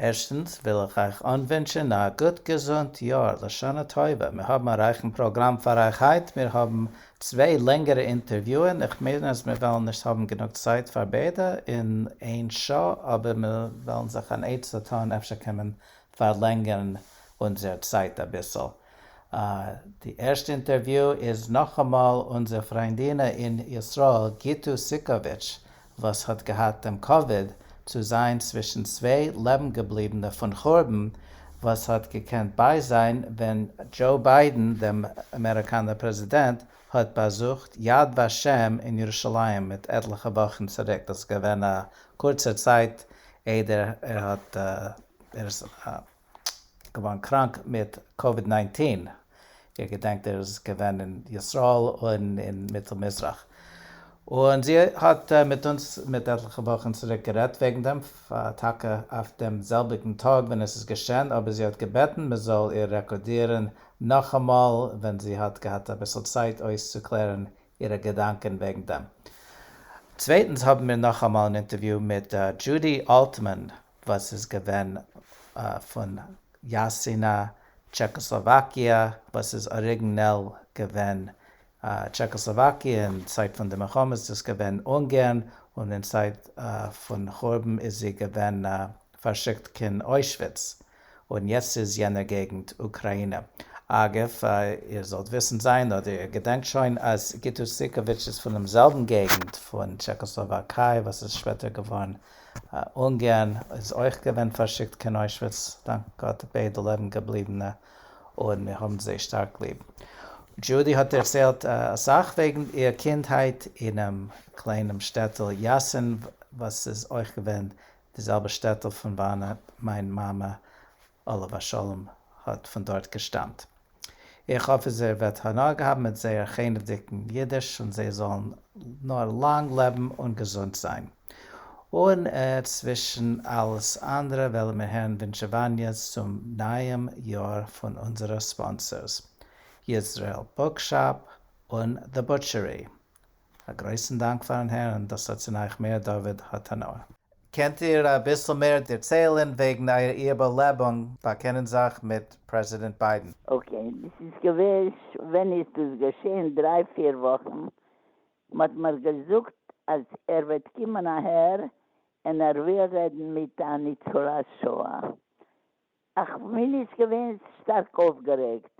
ערשטנס וויל איך אייך אנווינטשען א גוט געזונט יאר, לשנה טובה, מיר האבן א רייכן פראגראם פאר אייך היינט, מיר האבן צוויי לענגערע אינטערוויוען, איך מיין אז מיר וועלן נישט האבן גענוג צייט פאר ביידע אין איין שעה, אבער מיר וועלן זיך אן עצה טון אפשר קען מען פארלענגערן אונזער צייט אביסל. די ערשטע אינטערוויו איז נאכאמאל אונזער פריינדינע אין ישראל גיטו סיקאוויטש, וואס האט געהאט דעם כבוד צו זיין צווישן צוויי לעבנגעבליבענע פון חורבן וואס האט געקענט ביי זיין ווען דזשאו ביידען דעם אמעריקאנער פרעזידענט האט באזוכט יד ושם אין ירושלים מיט עטליכע וואכן צוריק דאס איז געווען א קורצער צייט איידער ער האט ער איז געווארן קראנק מיט קאוויד ניינצן, איר געדענקט ער איז געווען אין ישראל און אין מיטל מזרח, און זי האט מיט אונז מיט עטליכע וואכן צוריק גערעדט וועגן דעם, טאקע אויף דעם זעלביגן טאג ווען עס איז געשען, אבער זי האט געבעטן מען זאל איר רעקארדירן נאכאמאל ווען זי האט געהאט אביסל צייט אויסצוקלערן אירע געדאנקען וועגן דעם. צווייטנס האבן מיר נאכאמאל אן אינטערוויו מיט דזשודי אלטמאן, וואס איז געווען פון יאסינא, טשעקאסלאוואקיע, וואס איז אריגנעל געווען טשעקאסלאוואקיע, אין צייט פון די מלחמה איז דאס געווען אונגערן, און אין צייט פון חורבן איז זי געווען פארשיקט קיין אוישוויץ, און יעצט איז יענער געגנט אוקראינע. אגב, איר זאלט וויסן זיין, אדער איר געדענקט שוין, אז גיטו סיקאוויטש איז פונעם זעלבן געגנט פון טשעקאסלאוואקיי וואס איז שפעטער געווארן אונגערן איז אויך געווען פארשיקט קיין אוישוויץ, דאנק גאט ביידע לעבן געבליבענע און מיר האבן זיי שטארק ליב. דזשודי האט דערציילט אסאך וועגן איר קינדהייט אינעם קליינעם שטעטל יאסין וואס איז אויך געווען די זעלבע שטעטל פון וואנעט מיין מאמע עליו השלום האט פון דארט געשטאמט. איך האף אז איר וועט הנאה האבן מיט זייער חנ'וודיקן אידיש און זיי זאלן נאר לאנג לעבן און געזונט זיין. און צווישן אלעס אנדערע וועלן מיר הערן ווינטשעוואניעס צום נייעם יאר פון אונזערע ספאנסערס, יזרעאל בוקשאפ און The Butchery, א גרויסן דאנק פארן הערן דאס אצינאיך מאיר דוד התנא. קענט איר אביסל מער דערציילען וועגן אייער איבערלעבונג באקענען זיך מיט פרעזידענט ביידען? אקעי, דאס איז געווען, ווען איז דאס געשעהן? דריי פיר וואכן, מ'האט מיר געזאגט אז ער וועט קומען אהער און ער וויל רעדן מיט א ניצולי שואה, איך בין נישט געווען שטארק אויפגערעגט,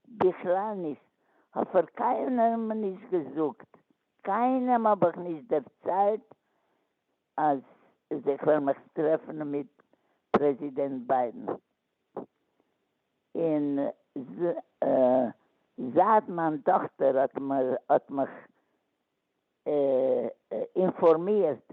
בכלל נישט, כ'האב פאר קיינעם נישט געזאגט, קיינעם האב איך נישט דערציילט אז איך וועל מיך טרעפן מיט פרעזידענט ביידען, און זייט מיין טאכטער האט מיך אינפארמירט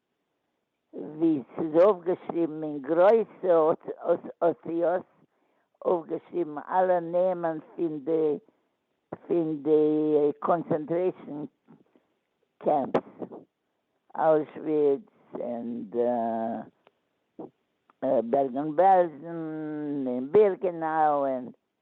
ווי ס'איז אויפגעשריבן אין גרויסע אותיות, אויפגעשריבן אלע נעמען פון די פון די קאנצענטרעישאן קעמפס, אוישוויץ און בערגן-בעלזן און בירקענאו און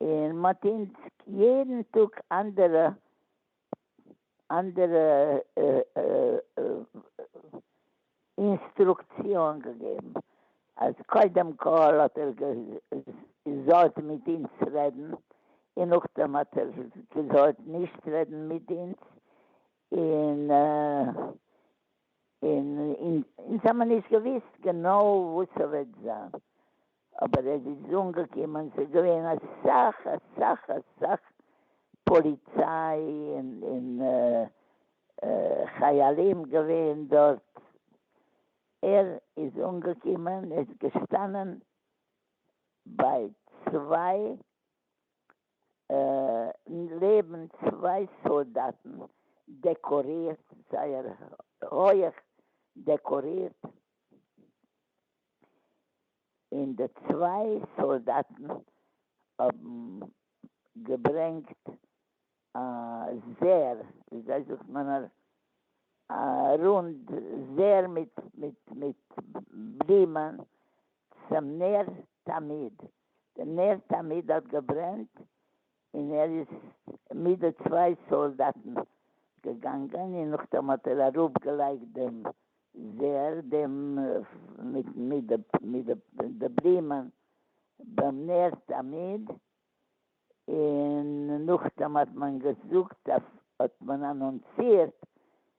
און מ'האט אונז יעדן טאג אנדערע אנדערע אינסטרוקציאן געגעבן, אז קודם כל האט ער געזאלט מיט אונז רעדן, און נאכדעם האט ער געזאלט נישט רעדן מיט אונז, און און אונז האמער נישט געוואוסט גענוי וואס ס'וועט זיין, אבער עס איז אנגעקומען ס'איז געווען אסאך אסאך אסאך פאליציי און חיילים געווען דארט, ער איז אנגעקומען ער איז געשטאנען ביי צוויי לעבן צוויי סאלדאטן דעקארירט זייער הויעך דעקארירט, און די צוויי סאלדאטן האבן געברענגט א זר, וויאזוי זאגט מען א רונד זר מיט בלימען צום נר תמיד, די נר תמיד האט געברענט און ער איז מיט די צוויי סאלדאטן געגאנגען, און נאכדעם האט ער אראפגעלייגט דעם זר דעם מיט די בלימען ביים נער תמיד, און נאכדעם האט מען געזאגט, האט מען אנאנסירט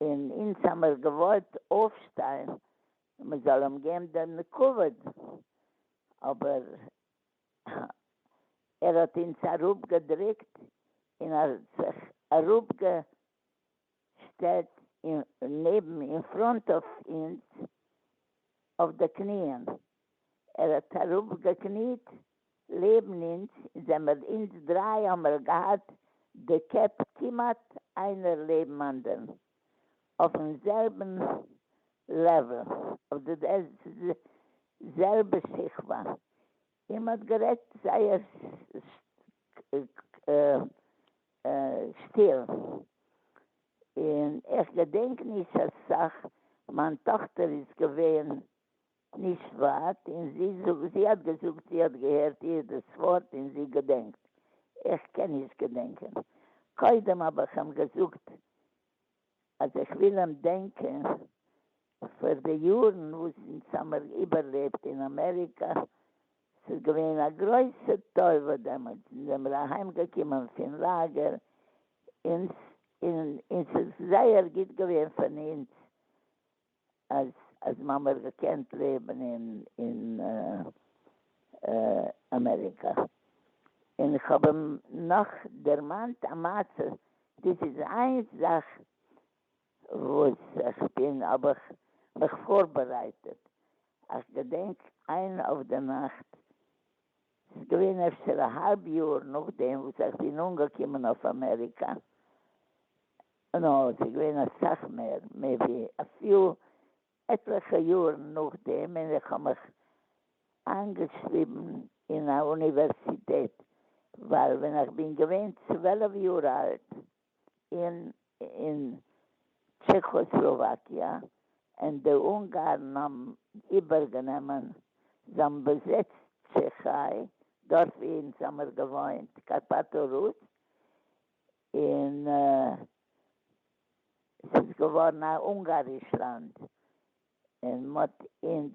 און אונז האמיר געוואלט אויפשטיין מען זאל אים געבן דעם כבוד, אבער ער האט אונז אראפגעדריקט און ער האט זיך אראפגעשטעלט נעבן, אין פראנט אויף אונז אויף די קניען, ער האט אראפגעקניט לעבן אונז און זעמער אונז דריי האמער געהאט די קעפ כמעט איינער לעבן אנדערן אויפן זעלבן לעוועל אויף די זעלבע שכבה און מ'האט גערעדט זייער שטיל און איך געדענק נישט אסאך מיין טאכטער איז געווען נישט ווייט, און זי זאגט, זי האט געזאגט זי האט געהערט איר דאס ווארט און זי געדענקט, איך קען נישט געדענקען, קודם האב איך אים געזאגט אז איך וויל אים דענקען פאר די יארן וואס אונז האמיר איבערלעבט אין אמעריקא, ס'איז געווען א גרויסע טובה דעמאלטס, אונז זעמיר אהיים געקומען פון לאגער, און ס'איז זייער גוט געווען פון אונז, אז אז מען האט געקענט לעבן אין אין אמעריקא, און איך האב אים נאך דערמאנט א מעשה, דאס איז איין זאך וואס איך בין האב איך מיך פארבערייטעט, איך געדענק איין אויף די נאכט, ס'איז געווען אפשר א האלב יאר נאכדעם וואס איך בין אנגעקומען אויף אמעריקא, נאר ס'איז געווען אסאך מער, מעיבי אפילו עטליכע יאר נאכדעם ווען איך האב מיך איינגעשריבן אין א אוניווערסיטעט, ווייל ווען איך בין געווען צוועלף יאר אלט אין אין טשעכאסלאוואקיע און די אונגארן האבן איבערגענומען זיין באזעצט טשעכיי דארף ווי אונז האמיר געוואוינט קארפאטא רוס און ס'איז געווארן א אונגאריש לאנד און מ'האט אונז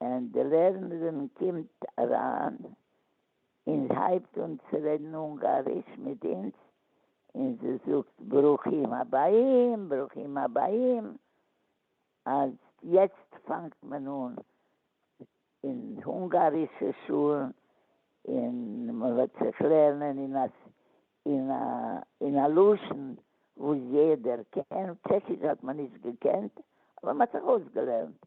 און די לערנערין קומט אריין און הייבט אן צו רעדן אונגאריש מיט אונז, און זי זאגט ברוכים הבאים ברוכים הבאים, אז יעצט פאנגט מען אן אין אונגארישע שולן און מען וועט זיך לערנען אין א לשון וואס יעדער קען, טשעקיש האט מען נישט געקענט אבער מען האט זיך אויסגעלערנט,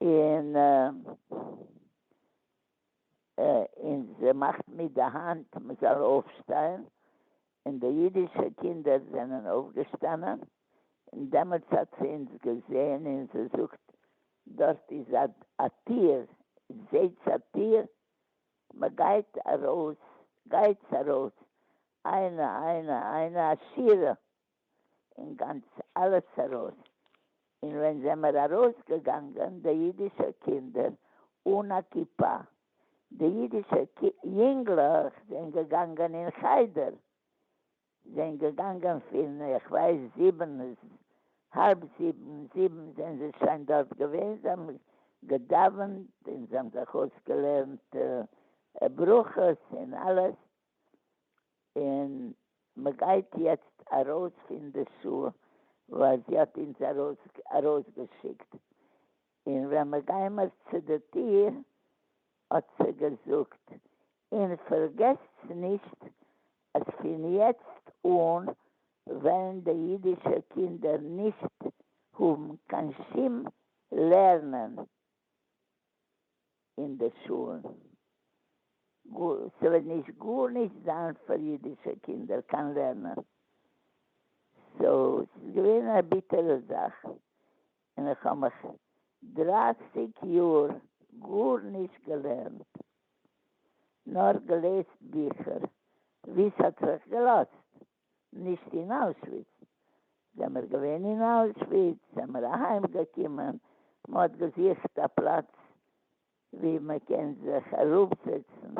און און זי מאכט מיט די האנט מ'זאל אויפשטיין, און די אידישע קינדער זענען אויפגעשטאנען, און דעמאלטס האט זי אונז געזען און זי זאגט, דארט איז א טיר, זעהטס א טיר? מ'גייט ארויס, גייטס ארויס, איינע איינע איינע עשירה אין גאנץ אלעס ארויס, אין ווען זעמער ארויס געגאנגען די אידישע קינדער אן א כיפה, די אידישע יונגלעך זענען געגאנגען אין חדר, זענען געגאנגען פין איך ווייס זיבן האלב זיבן זיבן זענען זיי שוין דארט געווען, זיי האבן געדאווענט אין זיי האבן זיך אויסגעלערנט ברכות אין אלעס, און מ'גייט יעצט ארויס פון די שול ווייל זי האט אונז ארויסגעשיקט, און ווען מ'גיימער צו די טיר האט זי געזאגט, און פארגעסטס נישט אז פון יעצט אן וועלן די אידישע קינדער נישט האבן קיין שום לערנען. אין די שוהלן, ס'וועט נישט גארנישט זיין פאר אידישע קינדער קיין לערנען, סאו ס'איז געווען א ביטערע זאך, און איך האב מיך דרייסיג יאר גארנישט געלערנט, נאר געלעזט ביכער ווי ס'האט זיך געלאזט. נישט אין אוישוויץ. זעמער געווען אין אוישוויץ, זעמער אהיים געקומען, מ'האט געזוכט א פלאץ ווי מ'קען זיך אראפזעצן,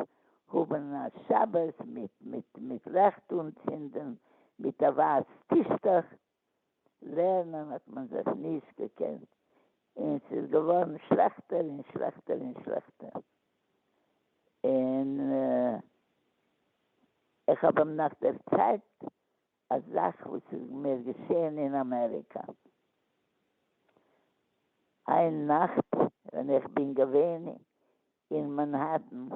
האבן א שבת מיט מיט מיט לעכט אנצינדן, מיט א ווייס טישטוך, לערנען האט מען זיך נישט געקענט, און ס'איז געווארן שלעכטער און שלעכטער און שלעכטער, און איך האב אים נאך דערציילט א זאך וואס איז מיר געשען אין אמעריקא, איין נאכט ווען איך בין געווען אין מאנהעטן,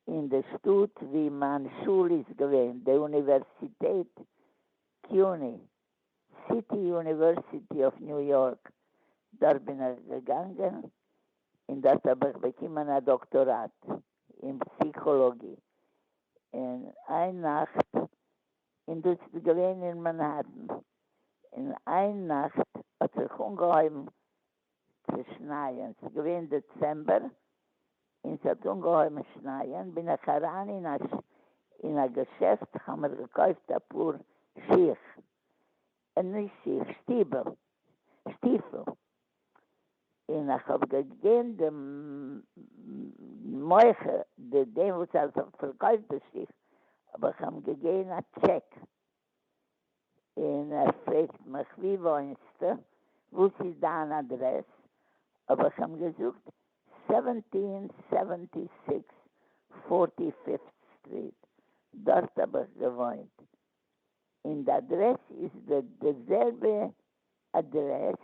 אין די שטאט ווי מיין שול איז געווען, די אוניווערסיטעט קיוני, סיטי יוניווערסיטי אף ניו יארק, דארט בין איך געגאנגען און דארט האב איך באקומען א דאקטאראט אין פסיכאלאגיע, און איין נאכט, און דאס איז געווען אין מאנהעטן, און איין נאכט האט זיך אנגעהויבן צו שנייען, ס'איז געווען דעצעמבער און ס'האט אנגעהויבן שנייען, בין איך אריין אין א אין א געשעפט האמיר געקויפט אפאר שיך, נישט שיך, שטיוועל, שטיפל, און איך האב געגעבן די מוכר די דעם וואס האט פארקויפט די שיך האב איך אים געגעבן א טשעק און ער פרעגט מיך ווי וואוינסטו? וואס איז דיין אדרעס? האב איך אים געזאגט סעווענטין סעווענטי סיקס פארטי פיפט סטריט, דארט האב איך געוואוינט, און די אדרעס איז די זעלבע אדרעס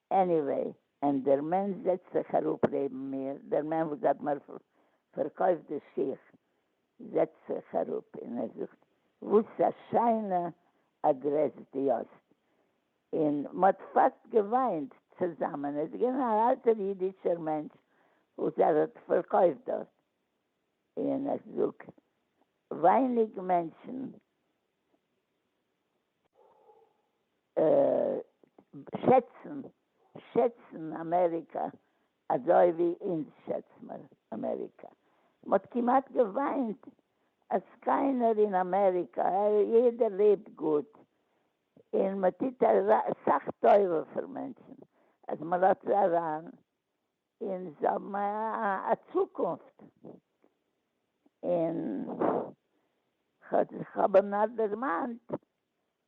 עניוועי, אין דער מענטש זעצט זיך אראפ לעבן מיר, דער מענטש וואס האט מיר פארקויפט די שיך זעצט זיך אראפ אין ער זאגט וואס א שיינע אדרעס די האסט, אין מ'האט פאסט געוויינט צוזאמען, איז געווען א אלטער אידישער מענטש וואס ער האט פארקויפט דארט, אין איך זאג ווייניג מענטשן שעצן, שעצן אמעריקא אזוי ווי אונז שעצט מען אמעריקא. מ'האט כמעט געוויינט אז קיינער אין אמעריקא, יעדער לעבט גוט, און מ'טוט אסאך טובה פאר מענטשן, אז מ'לאזט זיי אריין און זיי האבן א צוקונפט, און איך האב אים נאר דערמאנט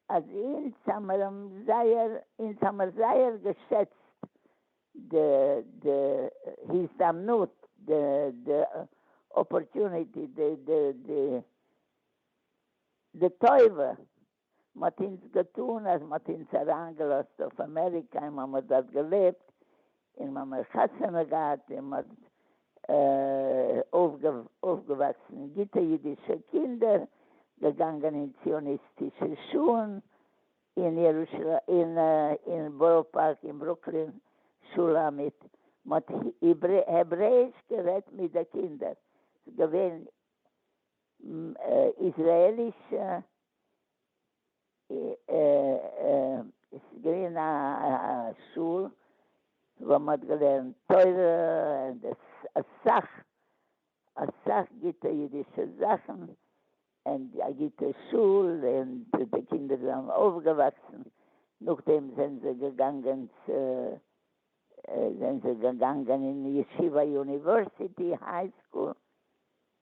אז אונז האמיר אים זייער, אונז האמיר זייער געשעצט די די הזדמנות, די די אפארטוניטי, די די די טובה מ'האט אונז געטון אז מ'האט אונז אריין געלאזט אויף אמעריקא און מ'האמער דארט געלעבט און מ'האמער חתונה געהאט און מ'האט אויפגעוואקסן גוטע אידישע קינדער, געגאנגען אין ציוניסטישע שולן אין ירושלים אין בארא פארק אין ברוקלין שולמית, מ'האט העברעיש גערעדט מיט די קינדער, ס'איז געווען איזרעליש ס'איז געווען א שול וואו מ'האט געלערנט תורה און אסאך אסאך גוטע אידישע זאכן און א גוטע שול און די קינדער זענען אויפגעוואקסן נאכדעם זענען זיי געגאנגען צו זענען זיי געגאנגען אין ישיבה יוניווערסיטי היי סקול.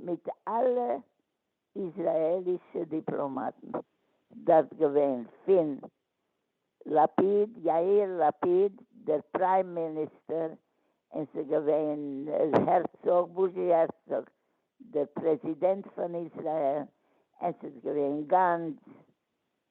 מיט אלע איזראעלישע דיפלאמאטן דארט געווען פון לפיד יאיר לפיד דער פריים מיניסטער און ס'איז געווען הערצאג בוזשי הערצאג דער פרעזידענט פון איזראעל און ס'איז געווען גאנץ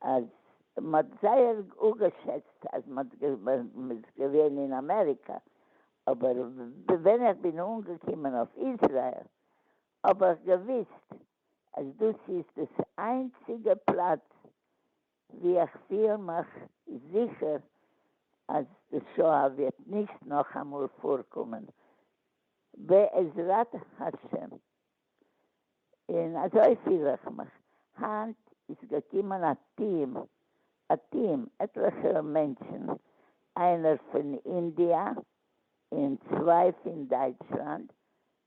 אז מ'האט זייער אפגעשעצט אז מ'איז געווען אין אמעריקא, אבער ווען איך בין אנגעקומען אויף איזרעיל האב איך געוויסט אז דאס איז דאס איינציגע פלאץ ווי איך פיל מיך זיכער אז די שואה וועט נישט נאכאמאל פארקומען בעזרת השם. און אזוי פיל איך מיך. היינט איז געקומען א טיעם, א טיעם, עטליכע מענטשן, איינער פון אינדיע און צוויי פון דייטשלאנד,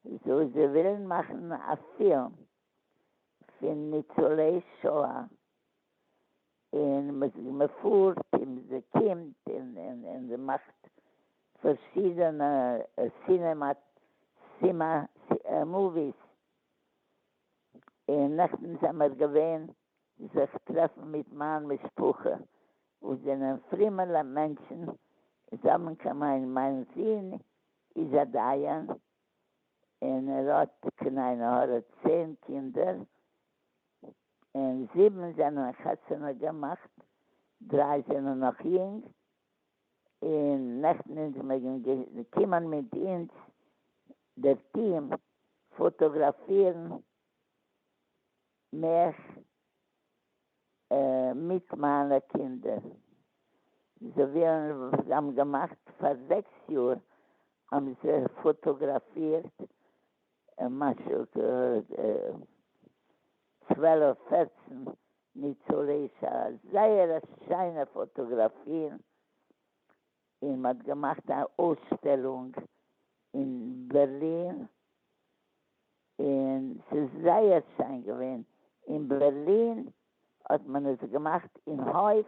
זיי ווילן מאכן א פילם פון ניצולי שואה, און מען פארט און מען קומט און מען מאכט פארשידענע סינעמא מאוויס, און נעכטן זעמער געווען זיך טרעפן מיט מיין משפחה וואס זענען פרימעלע מענטשן, זיי האבן קיין מיין מיין זון איז א דיין און ער האט קען עין הרע צען קינדער, און זיבן זענען חתונה געמאכט, דריי זענען נאך יונג, און נעכטן אונז מעגן קומען מיט אונז דער טיעם פאטאגראפירן מיך מיט מיינע קינדער, זיי ווילן, זיי האבן געמאכט פאר זעקס יאר האבן זיי פאטאגראפירט ער משל ט צוועלף פערצן ניצולי שואה, זייער א שיינע פאטאגראפיר, און מ'האט געמאכט א אויסשטעלונג אין בערלין, און ס'איז זייער שיין געווען, אין בערלין האט מען עס געמאכט אין הויף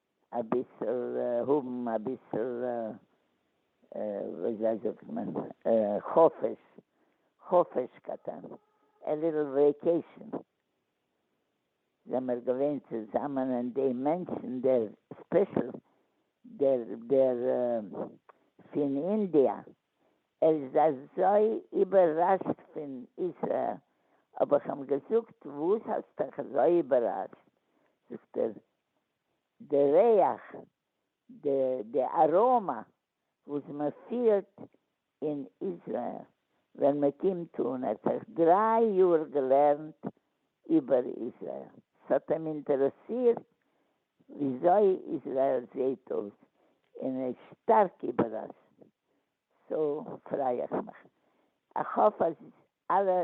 אביסל האבן אביסל וויאזוי זאגט מען חופש, חופש קטן, א ליטל וועיקעישן, זעמער געווען צוזאמען און די מענטשן דער ספעשל דער דער פון אינדיע ער איז אזוי איבערראשט פון איזרעאל האב איך אים געזאגט וואס האסטעך אזוי איבערראשט זאגט ער די ריח, די די אראמא וואס מען פירט אין איזרעיל ווען מען קומט אן, ער האט זיך דריי יאר געלערנט איבער איזרעיל, ס'האט אים אינטערעסירט וויאזוי איזרעיל זעהט אויס, און ער איז שטארק איבעראשט, סאו פריי איך מיך, איך האף אז אלע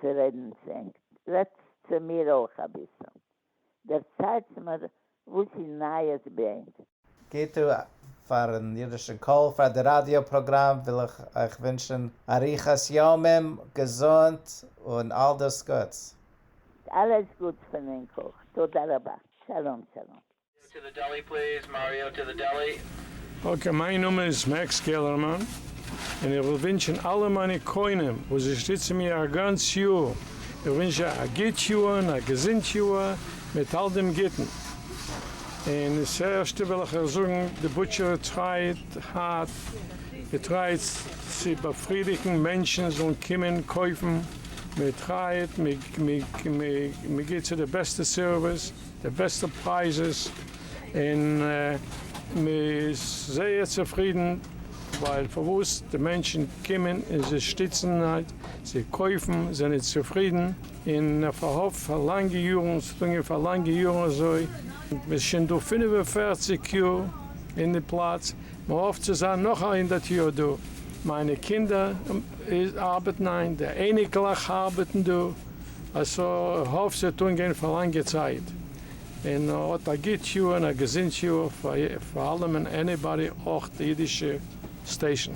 צו רעדן צו ענק, רעדטס צו מיר אויך אביסל, דערציילטס מיר וואס איז נייעס ביי ענק. גוט אויף פארן אידישן קול, פאר די ראדיא פראגראם וויל איך אייך ווינטשן אריכות ימים, געזונט און אלדאס גוטס. אלעס גוטס פון ענק אויך, תודה רבה. שלום שלום. טו דע דעלי פליז מאריאו טו דע דעלי. אקעי, מיין נאמען איז מעקס קעלערמאן, און איך וויל ווינטשען אלע מיינע קונים וואס זיי שטיצען מיר א גאנץ יאר, איך ווינטש זיי א גוט יאר און א געזונט יאר מיט אל דעם גוטען, און ס'ערשטע וויל איך אייך זאגען די בוטשערי טרייט הארט, איר טרייט צו באפרידיגען מענטשען זאלען קומען קויפען, מיר טרייט, מיר געט צו די בעסטע סערוויס. די בעסטע פרייזעס און מען איז זייער צופרידן ווייל פארוואס די מענטשן קומען און זיי שטיצן זיי קויפן זענען צופרידן און פארהאפט פאר לאנגע יארן ס'האט אנגעהויבן פאר לאנגע יארן אזוי מ'איז שוין דא פֿינף און פֿערציק יאר אין די פלאץ מ'האפט צו זיין נאך א הונדערט יאר דא מיינע קינדער ארבעטן איין די אייניקלעך ארבעטן דא. איך האף ס'וועט אנגיין פאר לאנגע צייט, און האט א גוט יאר און א געזונט יאר פאר אלעם און עניבאדי אויך די אידישע סטעישן.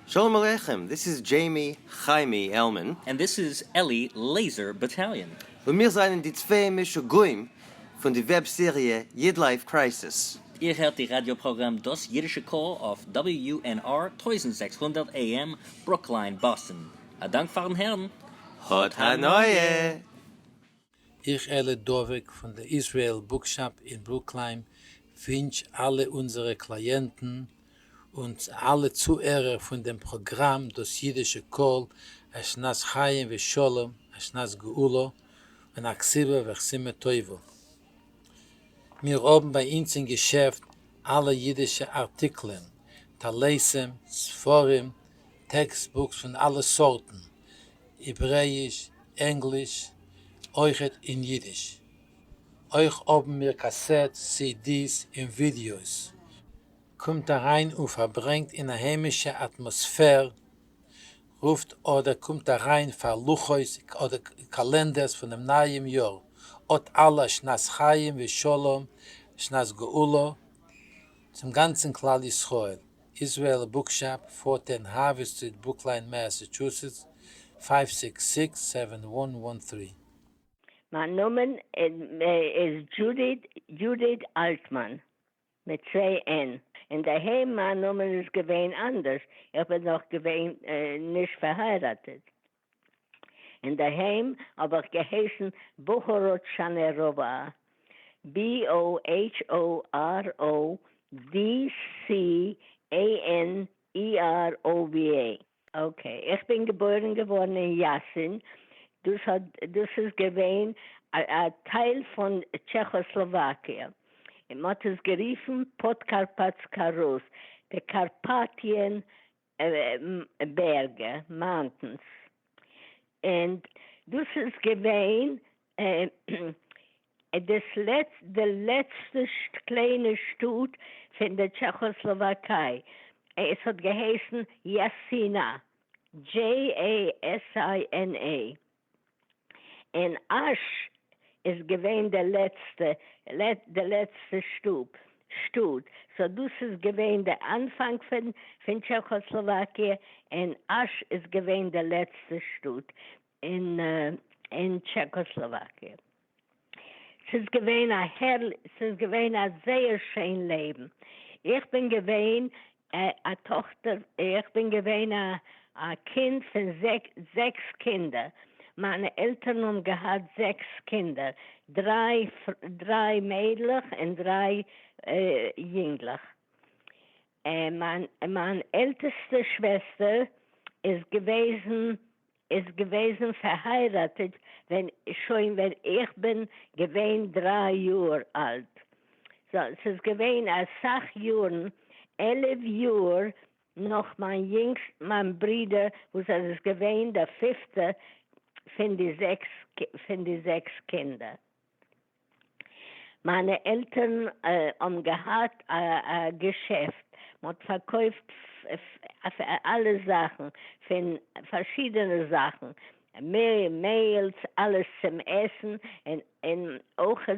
שלום עליכם, דיס איז דזשעימי חיימי עלמען. און דיס איז אלי לעיזער באטאליאן. און מיר זענען די צוויי משוגעים פון די וועב סעריע איד לייף קרייסיס. איר הערט די ראדיא פראגראם דאס אידישע קול אויף WNR טויזנט זעקס הונדערט AM ברוקלין, באסטן. א דאנק פארן הערן, האט הנאה! איך אלי דבוק פון די איזרעיל בוקשאפ אין ברוקלין ווינטש אלע אונזערע קלייענטן און אלע צוהערער פון דעם פראגראם דאס אידישע קול א שנת חיים ושלום א שנת גאולה און א כסלו וכסימה טובה. מיר האבן ביי אונז אין געשעפט אלע אידישע ארטיקלען, טליתים, ספרים, טעקסט בוקס פון אלע סארטן, העברעיש, ענגליש, אויכעט אין אידיש. אויך האבן מיר קאסעט סידיס און ווידיאוס. קומט אריין און פארברענגט אין א היימישע אטמאספער רופט אדער קומט אריין פאר לוחות אדער קאלענדערס פונעם נייעם יאר, אט אלע א שנת חיים ושלום שנת גאולה צום גאנצן כלל ישראל, איזרעאל בוקשאפ, פארטען האווי סטריט ברוקליין מעסעטשוסעטס פייוו סיקס סיקס סעווען וואן וואן טרי. מיין נאמען איז דזשודי אלטמאן. מיט צוויי ען. אינדערהיים מיין נאמען איז געווען אנדערש, איך בין נאך געווען נישט פארהייראטעט, אינדערהיים האב איך געהייסן בוכאראטשאנעראווא, BOHORODCHANEROVA. אקעי, איך בין געבוירן געווארן אין יאסין, דאס האט דאס איז געווען א טייל פון טשעכאסלאוואקיע, און מען האט עס גערופן פאדקארפאטסקא רוס, די קארפאטיען בערגע, מאונטענס, און דאס איז געווען דאס לעצט די לעצטע קליינע שטאט פון די טשעכאסלאוואקיי, עס האט געהייסן יאסינא, JASINA, און אש איז געווען די לעצטע די לעצטע שטאט, שטאט, סאו דאס איז געווען די אנפאנג פון טשעכאסלאוואקיע, און אש איז געווען די לעצטע שטאט. אין טשעקאסלאוואקיע. ס'איז געווען א הערלי ס'איז געווען א זייער שיין לעבן. איך בין געווען א טאכטער איך בין געווען א א קינד פון זעקס קינדער. מיינע עלטערן האבן געהאט זעקס קינדער, דריי דריי מיידלעך און דריי יונגלעך. מיין עלטעסטע שוועסטער איז געוועזן איז געוועזן פארהייראטעט ווען שוין ווען איך בין געווען דריי יאר אלט, סא ס'איז געווען אסאך יארן, עלעף יאר נאך מיין יונגסט מיין ברודער וואס ער איז געווען דער פיפטער פון די זעקס פון די זעקס קינדער. מיינע עלטערן האבן געהאט א געשעפט, מען האט פארקויפט אלע זאכן, פון פארשידענע זאכן, מעהל'ס, אלעס צום עסן, און אויך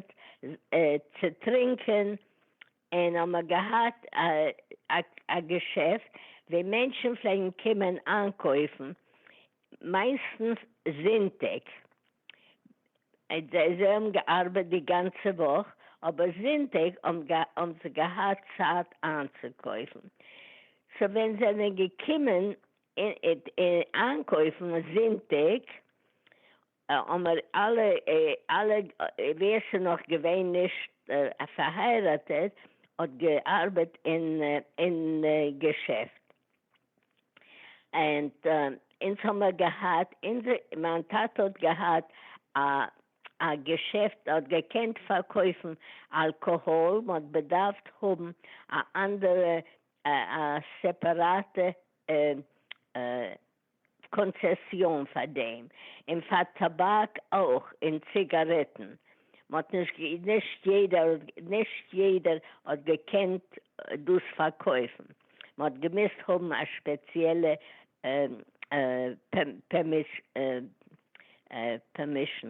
צו טרינקען, און האמער געהאט א געשעפט ווי מענטשן פלעגן קומען איינקויפן מיינסטנס זונטאג, זיי האבן געארבעט די גאנצע וואך אבער זונטאג האבן זיי געהאט צייט איינצוקויפן, סאו ווען זיי זענען געקומען איינקויפן זונטאג א אמער אלע אלע ווער ס'נאך געווען נישט פארהייראטעט האט געארבעט אין אין געשעפט ענד אונז האמער געהאט אונזער מיין טאטע האט געהאט א א געשעפט ער האט געקענט פארקויפן אלקאהאל מ'האט בעדארפט האבן א אנדערע א סעפעראטע קאנצעסיאן פאר דעם, און פאר טאבאק אויך, און ציגארעטן. מ'האט נישט גע. נישט יעדער האט. נישט יעדער האט געקענט דאס פארקויפן. מ'האט געמוזט האבן א שפעציעלע פערמישן.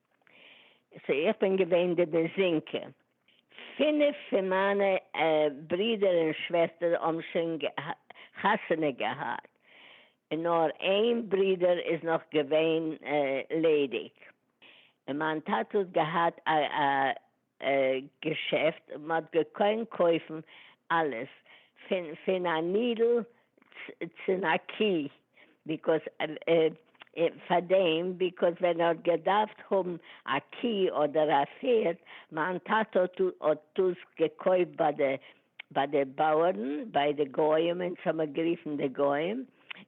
סאו איך בין געווען די דזינקע. פינף פון מיינע ברידער און שוועסטער האבן שוין חתונה געהאט, און נאר איין ברידער איז נאך געווען ליידיג, און מיין טאטע האט געהאט א געשעפט און מ'האט געקוינט קויפן אלעס פין פין א נידל צין א קי ביקאוס פאר דעם ביקאוס ווען ער האט געדארפט האבן א קי אדער א פערד מיין טאטע האט האט דאס געקויפט ביי די ביי די בויערן ביי די גוים אונז האב מיר גערופן די גוים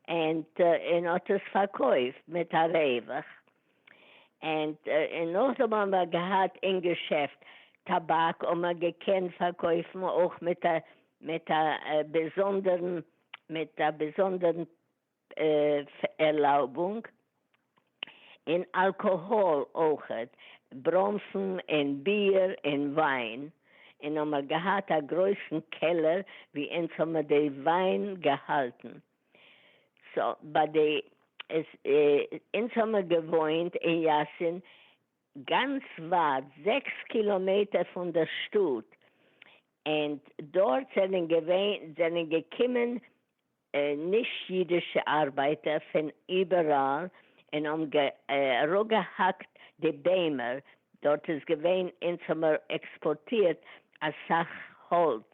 ענד און האט עס פארקויפט מיט א רווח. ענד און נאכדעם האבן מיר געהאט אין געשעפט טאבאק און מ'האט געקענט פארקויפן אויך מיט א מיט א באזונדערן מיט א באזונדערן ערלויבונג, און אלקאהאל אויכעט, בראנפן און ביר און וויין, און האבן מיר געהאט א גרויסן קעלער ווי אונז האבן מיר די וויין געהאלטן, סא ביי די עס אונז האמער געוואוינט אין יאסין גאנץ ווייט זעקס קילאמעטער פון דער שטאט ענד דארט זענען געווען זענען געקומען נישט אידישע ארבייטער פון איבעראל און האבן אראפגעהאקט די ביימער דארט איז געווען אונז האמער עקספארטירט אסאך האלץ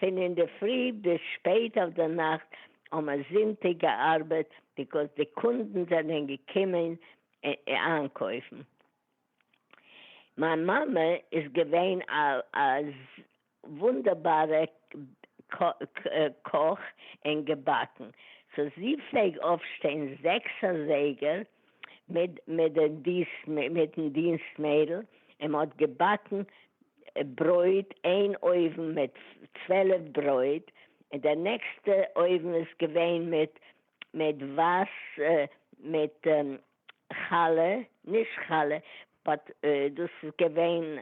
פון אינדערפרי ביז שפעט אויף די נאכט האט מען זונטאג געארבעט ביקאוז די קונדן זענען געקומען איינקויפן. מיין מאמע איז געווען א וואונדערבארע קאך און געבאקן, סאו זי פלעג אויפשטיין זעקס אזייגער מיטן דינסט מיידל און מען האט געבאקן ברויט, איין אויוון מיט צוועלף ברויט און די נעקסטע אויוון איז געווען מיט מיט ווייס מיט חלה, נישט חלה באט דאס איז געווען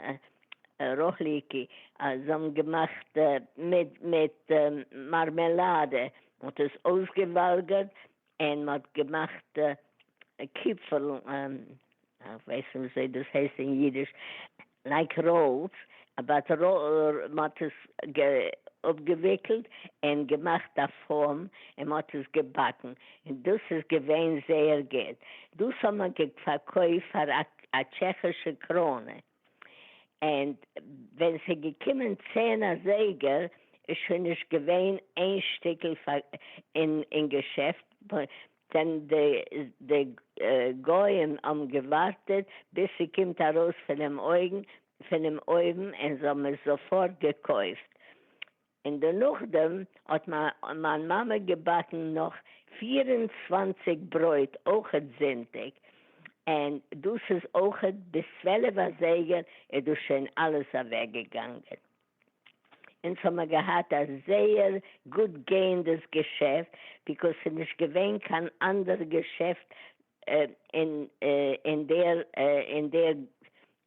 רחליקי אז זיי האבן געמאכט מיט מיט מארמעלאדע, מען האט עס אויסגעוואלגערט און מ'האט געמאכט קיפל, איך ווייס נישט וויאזוי דאס הייסט אין אידיש, לייק ראלס, באט מ'האט עס אפגעוויקלט און געמאכט א פאום און מ'האט עס געבאקן, און דאס איז געווען זייער גוט, דאס האט מען געפארקויפט פאר א טשעכישע קראונע. ענד ווען ס'איז געקומען צען אזייגער איז שוין נישט געווען איין שטיקל אין געשעפט, ווען די גוים האבן געווארטעט ביז ס'קומט ארויס פונעם אויוון און זיי האבן עס זאפארט געקויפט, און דערנאכדעם האט מיין מאמע געבאקן נאך פֿיר און צוואַנציק ברויט אויכעט זונטאג, און דאס איז אויכעט ביז צוועלף אזייגער איז דאס שוין אלעס אוועקגעגאנגען. אונז האמער געהאט א זייער גוט גייענדעס געשעפט, ביקאוס ס'איז נישט געווען קיין אנדערע געשעפט אין דער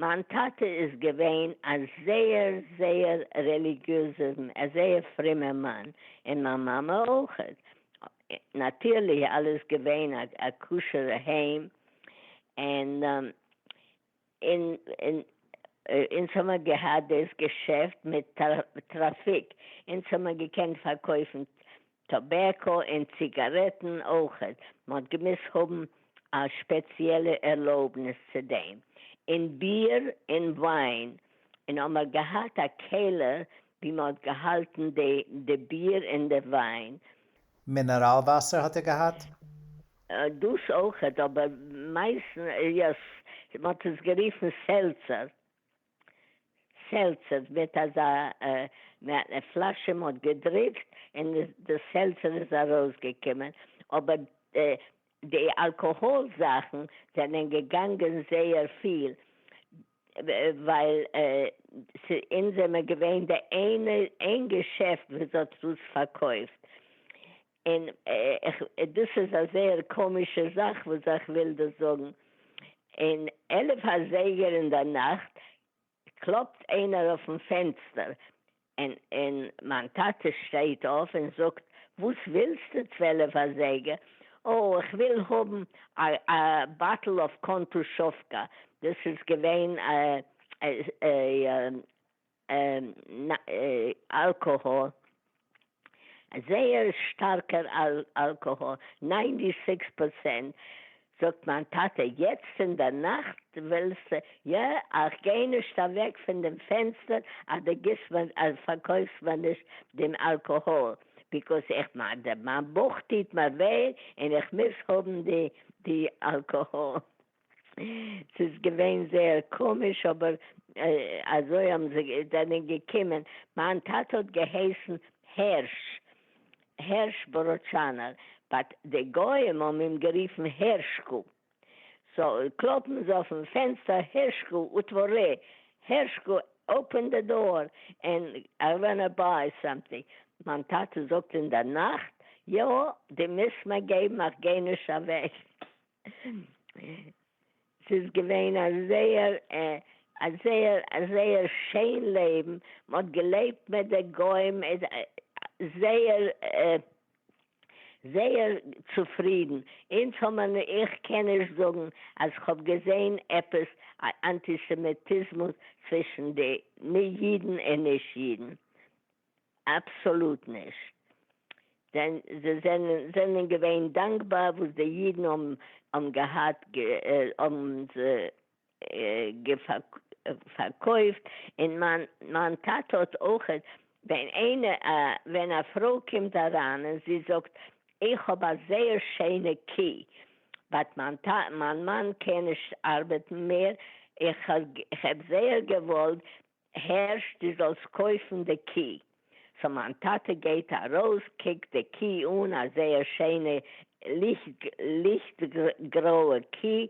מיין טאטע איז געווען א זייער זייער רעליגיעזער א זייער פרומער מאן, און מיין מאמע אויך, נאטירלי אלעס געווען א כשר'ע היים, און אונז האמער געהאט דאס געשעפט מיט טראפיק, אונז האמער געקענט פארקויפן טאבעקא און ציגארעטן אויכעט, מען האט געמוזט האבן א שפעציעלע ערלויבניס צו דעם, און ביר און וויין, און האמער געהאט א קעלער ווי מען האט געהאלטן די ביר און די וויין. מינעראל וואסער האט ער געהאט? דאס אויכעט, אבער מייסטנס, יא, מען האט עס גערופן סעלצער. סעלצער וועט אזא פלאשע מען האט געדריקט און די סעלצער איז ארויס געקומען אבער די אלקאהאל זאכן זענען געגאנגען זייער פיל ווייל אונז זעמער געווען די איינע איין געשעפט וואס האט דאס פארקויפט און איך, דאס איז א זייער קאמישע זאך וואס איך וויל דא זאגן, און עלף אזייגער אינדערנאכט קלאפט איינער אויפן פענסטער, און און מיין טאטע שטייט אויף און זאגט, וואס ווילסטו צוועלף אזייגער? אה, איך וויל האבן א א באטל אויף קאנטושובקא, דאס איז געווען א אלקאהאל, זייער שטארקע אלקאהאל, ניינטי סיקס פארצענט, זאגט מיין טאטע יעצט אין דער נאכט ווילסט יא איך גיי נישט אוועק פון דעם פענסטער אז דו גיבסט מיר אז פארקויפסט מיר נישט דעם אלקאהאל ביקאוס איך מיין בויך טוט מיר וויי און איך מוז האבן די אלקאהאל. ס'איז געווען זייער קאמיש אבער אזוי האבן זיי זענען געקומען, מיין טאטע האט געהייסן הערש, הערש בראדשאנער, באט די גוים האבן אים גערופן הערשקע, סא קלאפן זיי אויפן פענסטער הערשקע אוטווארע, הערשקע אפען די דאור ענד איי וואנא ביי סאמטינג, מיין טאטע זאגט אינדערנאכט, יא די מוזט מיר געבן איך גיי נישט אוועק. ס'איז געווען א זייער א זייער א זייער שיין לעבן, מ'האט געלעבט מיט די גוים זייער זייער צופרידן, אונז האבן מיר נישט, איך קען נישט זאגן אז כ'האב געזען עפעס א אנטיסעמיטיזמוס צווישן די נישט אידן און נישט אידן, אבסאלוט נישט. זיי זענען געווען דאנקבאר וואס די אידן האבן געהאט, האבן פארקויפט, און מיין טאטע האט אויך, ווען א פרוי קומט אריין און זי זאגט איך האב א זייער שיינע קי, באט מיין מאן קען נישט ארבעטן מער, איך האב זייער געוואלט הערשט די זאלסט קויפן די קי. סאו מיין טאטע גייט ארויס קוקט די קי אן א זייער שיינע ליכט גרויע קי,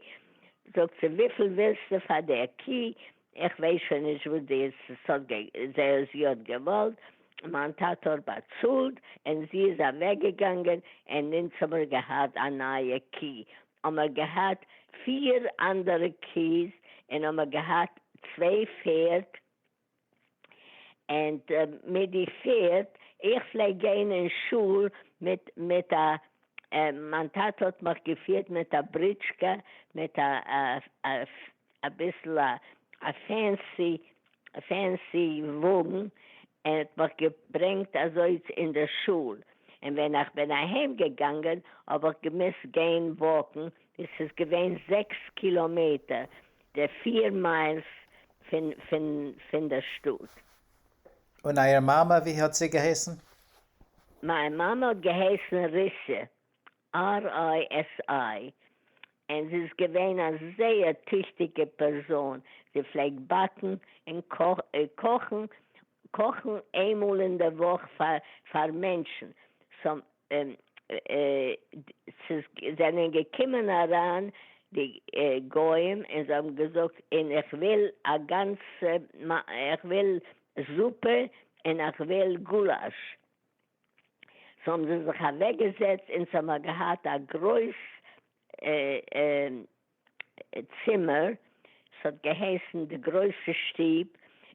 זאגט זי וויפיל ווילסטו פאר די קי, איך ווייס שוין נישט וואס זי האט געוואלט, מיין טאטע האט באצאלט און זי איז אוועקגעגאנגען און אונז האמיר געהאט א נייע קי, האמער געהאט פֿיר אנדערע קיעס און האמער געהאט צוויי פערד ענד מיט די פערד איך פלעג גיין אין שול מיט מיט א מיין טאטע האט מיך געפירט מיט א בריטשקע מיט א אביסל א פענסי פענסי וואגן, ער האט מיך געברענגט אזוי אין די שול, און ווען איך בין אהיים געגאנגען האב איך געמוזט גיין וואקן, עס איז געווען זעקס קילאמעטער, די פיר מיילס פון פון פון די שטאט. און אייער מאמע ווי האט זי געהייסן? מיין מאמע האט געהייסן ריסע, RISI, און זי איז געווען א זייער טיכטיגע פערזאן, זי פלעגט באקן און קאכן קאכן איינמאל אין די וואך פאר מענטשן, ס'זענען געקומען אריין די גוים און זיי האבן געזאגט און איך וויל א גאנצע, איך וויל זופע און איך וויל גולאש, ס'האבן זיי זיך אוועק געזעצט און ס'האמער געהאט א גרויס צימער, ס'האט געהייסן די גרויסע שטוב,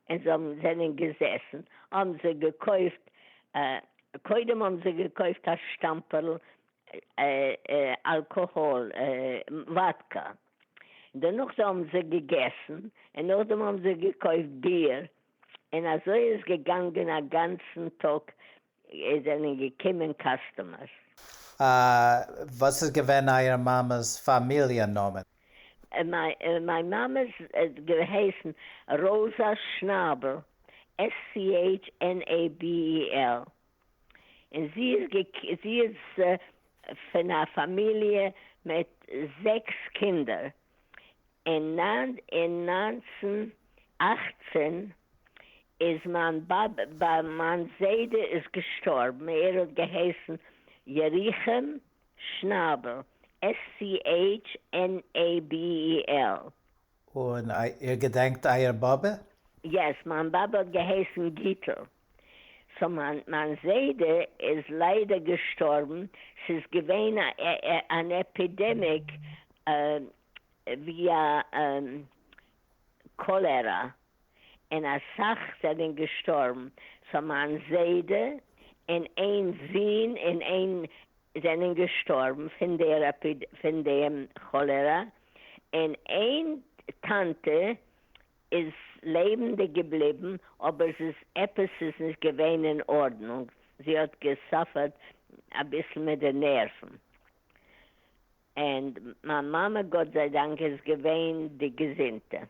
און זיי האבן זענען געזעסן, האבן זיי געקויפט, קודם האבן זיי געקויפט א שטאמפערל אלקאהאל, וואדקא, דערנאך האבן זיי געגעסן, און נאכדעם האבן זיי געקויפט ביר, און אזוי איז געגאנגען א גאנצן טאג עס זענען געקומען קאסטומערס. וואס איז געווען אייער מאמע'ס פאמיליע נאמען? מיין מאמע האט געהייסן ראזא שנאבעל, SCHNABEL, און זי איז פון א פאמיליע מיט זעקס קינדער, אין נײַנצן אַכצן איז מיין באבע, מיין זיידע איז געשטארבן, ער האט געהייסן ירוחם שנאבל, SCHNABEL. און איר געדענקט אייער באבע? יעס, מיין באבע האט געהייסן גיטל. סאו מיין זיידע איז ליידער געשטארבן, ס'איז געווען אן עפידעמיק ווי א קאלערא און אסאך זענען געשטארבן, סאו מיין זיידע און איין זון און איין זענען געשטארבן פון דער פון דעם כאלערא, און איין טאנטע איז לעבענדיג געבליבן, אבער זי איז, עפעס איז נישט געווען אין ארדנונג, זי האט געסאפערט אביסל מיט די נערוון, ענד מיין מאמע גאט זיי דאנק איז געווען די געזונטע.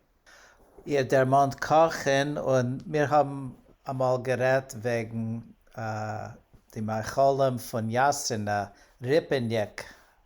איר דערמאנט קאכן, און מיר האבן אמאל גערעדט וועגן די מאכלים פון יאסינא ריפעניק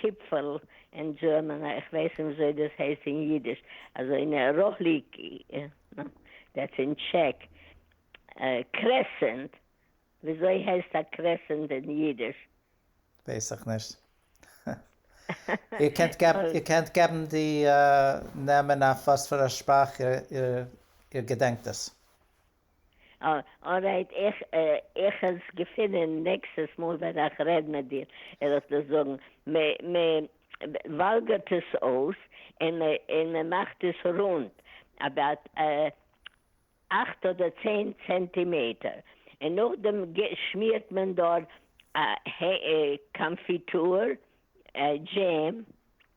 טיפֿל אין דזשערמען, איך װײס ניט װיִאַזױ דאָס הײסט אין ייִדיש, אַזױ אין ראָהליקע, דעטס אין טשעק, קרעסענט, װיִאַזױ הײסט אַ קרעסענט אין ייִדיש? װײס איך נישט. איר קענט געבן, איר קענט געבן די נעמען אױף װאָס פֿאַר אַ שפּראַך איר געדענקט עס. ארייט איך עס געפינען נעקסטעס מאל ווען איך רעד מיט דיר וועל איך דיר זאגן, מען וואלגערט עס אויס און מען מאכט עס רונד אבאוט אכט אדער צען צענטימעטער און נאכדעם שמירט מען דארט קאנפיטור דזשעם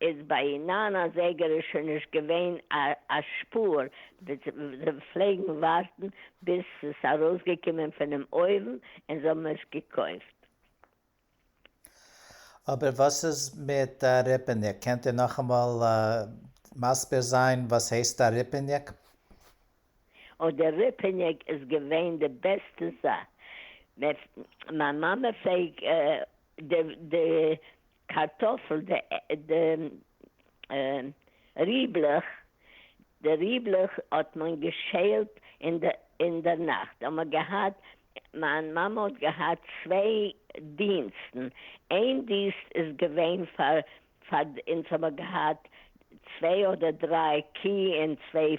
איז ביי נײַן אזייגער איז שוין נישט געווען א שפור, זיי פלעגן ווארטן ביז ס'איז ארויסגעקומען פונעם אויוון און זיי האבן עס געקויפט. אבער וואס איז מיט א ריפעניק? קענט איר נאכאמאל מסביר זיין וואס הייסט א ריפעניק? אוי די ריפעניק איז געווען די בעסטע זאך, מיין מאמע פלעג די קארטאפל, די ריבלעך, די ריבלעך האט מען געשעלט אינדערנאכט האט מען געהאט, מיין מאמע האט געהאט צוויי דינסטן, איין דינסט איז געווען פאר פאר אונז האבן געהאט צוויי אדער דריי קי און צוויי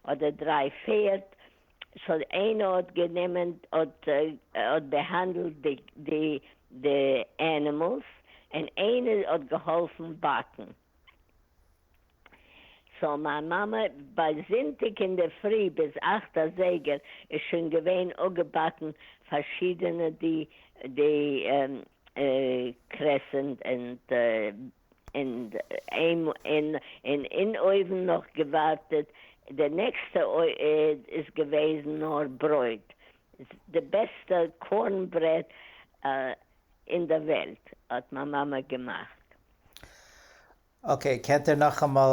אדער דריי פערד, סאו איינער האט גענומען האט האט בעהאנדעלט די די די ענימעלס און איינער האט געהאלפן באקן. סאו מיין מאמע ביי זונטאג אינדערפרי ביז אכט אזייגער איז שוין געווען אפגעבאקן פארשידענע די די קרעסענט ענד און אין אין אויוון נאך געווארטעט, די נעקסטע איז געוועזן נאר ברויט, די בעסטע קארן ברעד אין די וועלט האט מיין מאמע געמאכט. אקעי, קענט איר נאכאמאל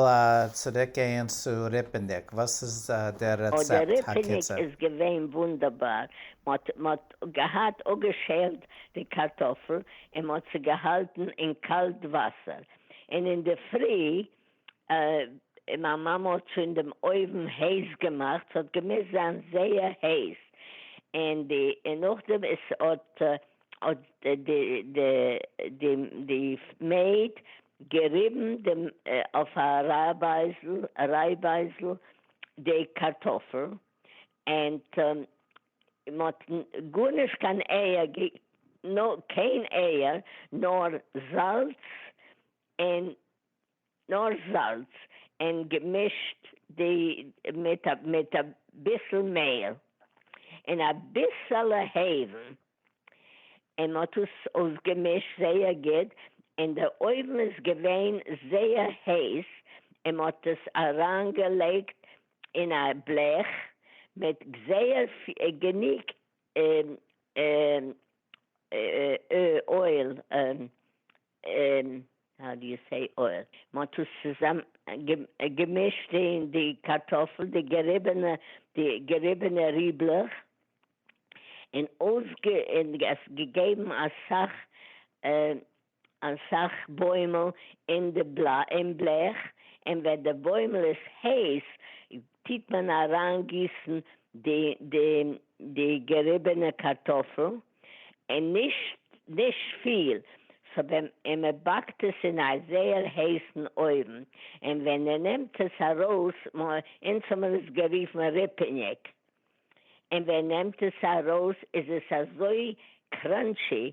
צוריק גייען צו ריפעניק? וואס איז דער רעצעפט הקיצור? ריפעניק איז געווען וואונדערבאר, מען האט געהאט אפגעשעלט די קארטאפל אין מען האט זי געהאלטן אין קאלט וואסער אין אינדערפרי אין מיין מאמע האט שוין דעם אויוון הייס געמאכט ס'האט געמוזט זיין זייער הייס אין די אין נאכדעם עס האט האט די די די די מעיד געריבן דעם אויף א רייבייזל רייבייזל די קארטאפל אין מ'האט גארנישט קיין אייער גע נא קיין אייער נאר זאלץ אין נאר זאלץ אין געמישט די מיט א מיט א ביסל מעהל אין א ביסעלע העוון אין מ'האט עס אויס געמישט זייער גוט אין די אויוון איז געווען זייער הייס אין מ'האט עס אריין געלייגט אין א בלעך מיט זייער גענוג אויל, האו די יו סעי אויל, מען האט עס צוזאם געמישט אין די קארטאפל די געריבענע די געריבענע ריבלעך און אויף און עס געגעבן אסאך אסאך בוימל אין די בלעך אין ווען די בוימל איז הייס טיט מען אריין גיסן די די די געריבענע קארטאפל אין נישט נישט פיל סא ווען אין מען באקט עס אין א זייער הייסן אויוון אין ווען אין נעמט עס ארויס מ אונז האט מען עס געריפן ריפעניג אין ווען נעמט עס ארויס איז עס אזוי קראנטשי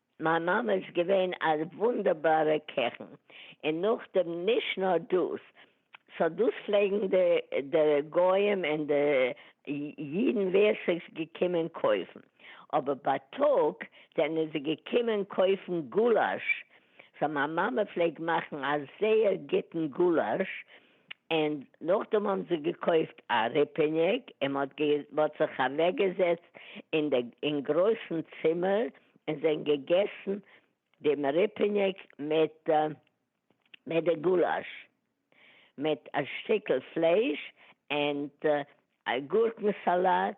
מיין מאמע איז געווען א וואונדערבארע קעכן, און נאכדעם נישט נאר דאס, סא דאס פלעגן די גוים און די אידן ווער סאיז געקומען קויפן, אבער בייטאג זענען זיי געקומען קויפן גולאש, סא מיין מאמע פלעגט מאכן א זייער גוטן גולאש, און נאכדעם האבן זיי געקויפט א ריפעניק און מען האט זיך אוועקגעזעצט אין גרויסן צימער און זענען געגעסן דעם ריפעניק מיט די גולאש, מיט א שטיקל פלייש און א גורקן סאלאט.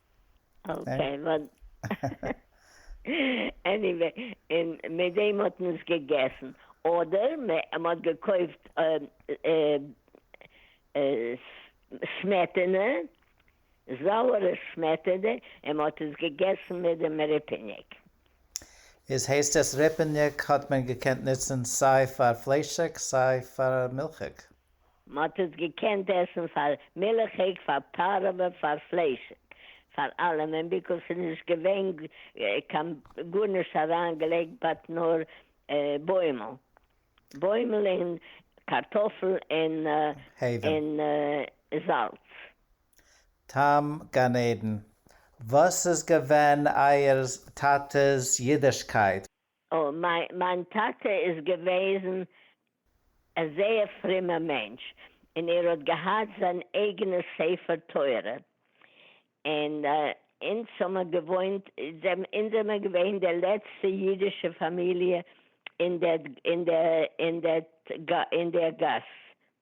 אקעי וואט עניוועי און מיט דעם האט מען עס געגעסן אדער מ'האט געקויפט סמעטענע זויערע סמעטענע און מ'האט עס געגעסן מיט דעם ריפעניק. איז הייסט עס ריפעניק האט מען געקענט נוצן סיי פאר פליישיג סיי פאר מילכיג? מ'האט עס געקענט עסן פאר מילכיג, פאר פארעווע, פאר פליישיג, פאר אלעמען, ביקוז ס'איז נישט געווען קיין גארנישט אריינגעלייגט באט נאר בוימל, בוימל און קארטאפל און זאלץ. טעם גן עדן, וואס איז געווען אייער טאטע'ס אידישקייט? מיין טאטע איז געוועזן א זייער פרימער מענטש אין ער האט געהאט זיין אייגענע ספר תורה אין אינז האמער געוואוינט אינז זעמער געווען די לעצטע אידישע פאמיליע אין דער גאס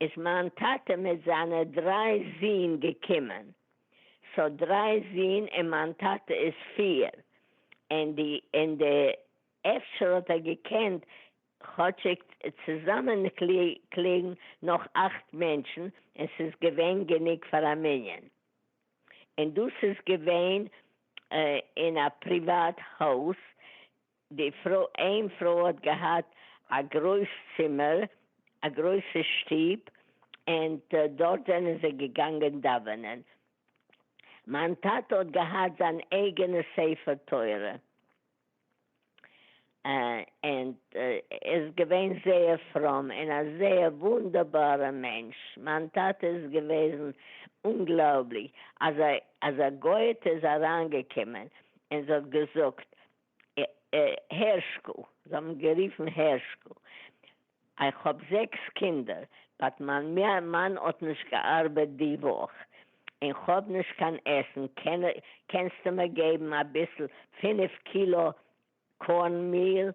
איז מיין טאטע מיט זיינע דריי זין געקומען, סאו דריי זין און מיין טאטע איז פיר, און די און די אפשר האט ער געקענט כאטשיג צוזאמענקליגן נאך אכט מענטשן און ס'איז געווען גענוג פאר א מנין, און דאס איז געווען אין א פריוואט הויז די פרוי, איין פרוי האט געהאט א גרויס צימער, א גרויסע שטוב, ענד דארט זענען זיי געגאנגען דאווענען. מיין טאטע האט געהאט זיין אייגענע ספר תורה, ענד ער איז געווען זייער פרום און א זייער וואונדערבארע מענטש. מיין טאטע איז געוועזן אומגלויבליך, אז א גוי'טע איז אריינגעקומען און זי האט געזאגט, הערשקל, זיי האבן גערופן הערשקל, איך האב זעקס קינדער, באט מיין מאן האט נישט געארבעט די וואך, און כ'האב נישט קיין עסן, קענסטו מיר געבן אביסל פֿינף קילא קארן מיל,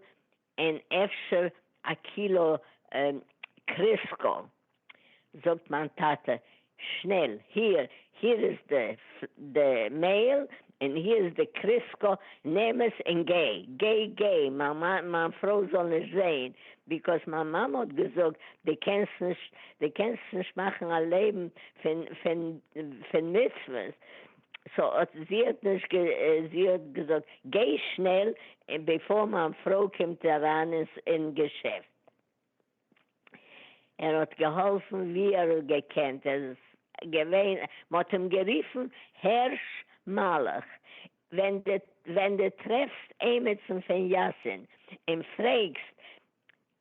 אין אפשר א קילא קריסקא, זאגט מיין טאטע שנעל, היר, היר איז די מעיל און היר איז די קריסקא, נעם עס און גיי, גיי, גיי, מיין פרוי זאל נישט זעהן, ביקאויז מיין מאמע האט געזאגט די קענסט נישט, די קענסט נישט מאכן א לעבן פון מצוות, סאו אט זי האט נישט גע. זי האט געזאגט גיי שנעל בעפאר מיין פרוי קומט אריין אין געשעפט. ער האט געהאלפן ווי ער האט געקענט. ער איז געווען. מ'האט אים גערופן הערש מלאך. ווען די ווען די טרעפסט עימיצן פון יאסין און פרעגסט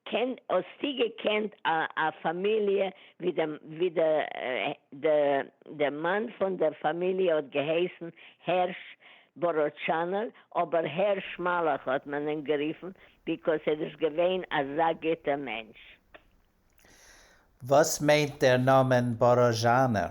קען האסטו געקענט א א פאמיליע ווי די ווי די די די מאן פון דער פאמיליע האט געהייסן הערש באראטשאנער אבער הערש מלאך האט מען אים גערופן ביקאוס ער איז געווען אזא גוטע מענטש. וואס מיינט דער נאמען באראזשאנער?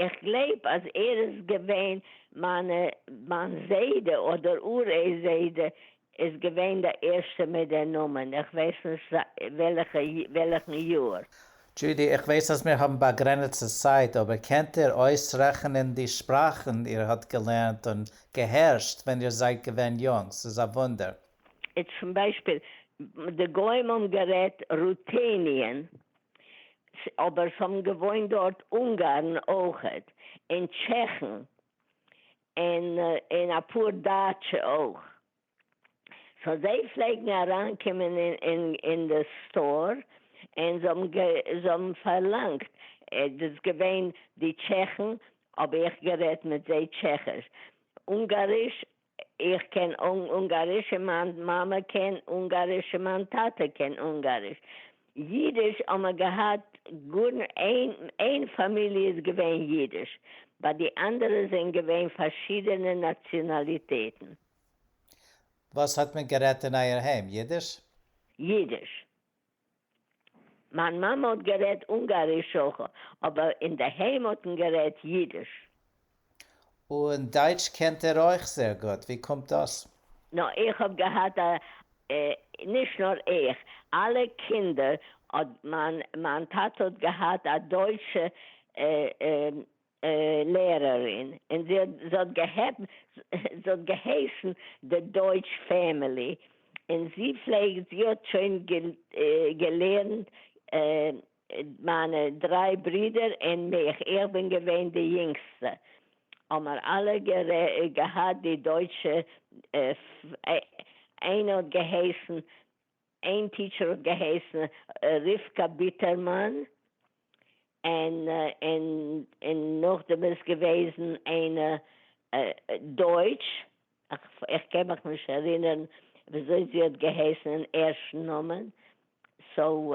איך גלייב אז ער איז געווען מיינע מיין זיידע אדער אור ע זיידע איז געווען די ערשטע מיט די נאמען איך ווייס נישט וועלעכע וועלעכן יאר. דזשודי, איך ווייס אז מיר האבן באגרענעצטע צייט, אבער קענט איר אויסרעכענען די שפראכן איר האט געלערנט און געהערשט ווען איר זייט געווען יונג? ס'איז א וואונדער. צום ביישפיל, די גוים האבן גערעדט רוטעניען, ס, אבער ס'האבן געוואוינט דארט אונגארן אויכעט, און טשעכן, און און אפאר דייטשע אויך, סאו זיי פלעגן אריינקומען אין די סטאר, און זיי האבן זיי האבן פארלאנגט, דאס געווען די טשעכן, האב איך גערעדט מיט זיי טשעכיש, אונגאריש, איך קען אונגאריש און מיין מאמע קען אונגאריש און מיין טאטע קען אונגאריש. אידיש האבן מיר געהאט גאר איין, איין פאמיליע איז געווען אידיש, ביי די אנדערע זענען געווען פארשידענע נאציאנאליטעטן. וואס האט מען גערעדט אין אייער היים? אידיש? אידיש. מיין מאמע האט גערעדט אונגאריש אויך, אבער אינדערהיים האט מען גערעדט אידיש. און דייטש קענט ער אויך זייער גוט, ווי קומט דאס? נא איך האב געהאט א, נישט נאר איך, אלע קינדער האט מיין, מיין טאטע האט געהאט א דויטשע לערערין, און זי האט געהייסן די דויטש פעמילי, און זי פלעגט, זי האט שוין געלערנט מיינע דריי ברידער און מיך, איך בין געווען די יונגסטע, האמער אלע געהאט די דויטשע, איינער האט געהייסן איין טיטשער האט געהייסן רבקה ביטערמאן, און און נאכדעם איז געוועזן איינע דויטש, איך קען מיך נישט ערינערן וויאזוי זי האט געהייסן אין ערשטן נאמען, סאו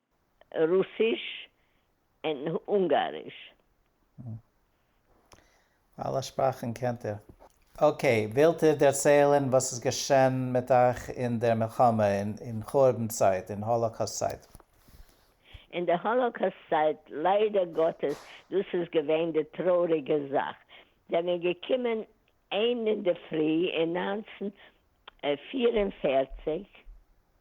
רוסיש און אונגאריש. אלע שפראכן קענט איר? אקעי, ווילט איר דערציילן וואס איז געשען מיט אייך אין דער מלחמה, אין חורבן צייט, אין האלאקאסט צייט? אין די האלאקאסט צייט, ליידער גאטעס, דאס איז געווען די טרויעריגע זאך, זענען געקומען איין אינדערפרי אין נײַנצן פֿיר און פֿערציק,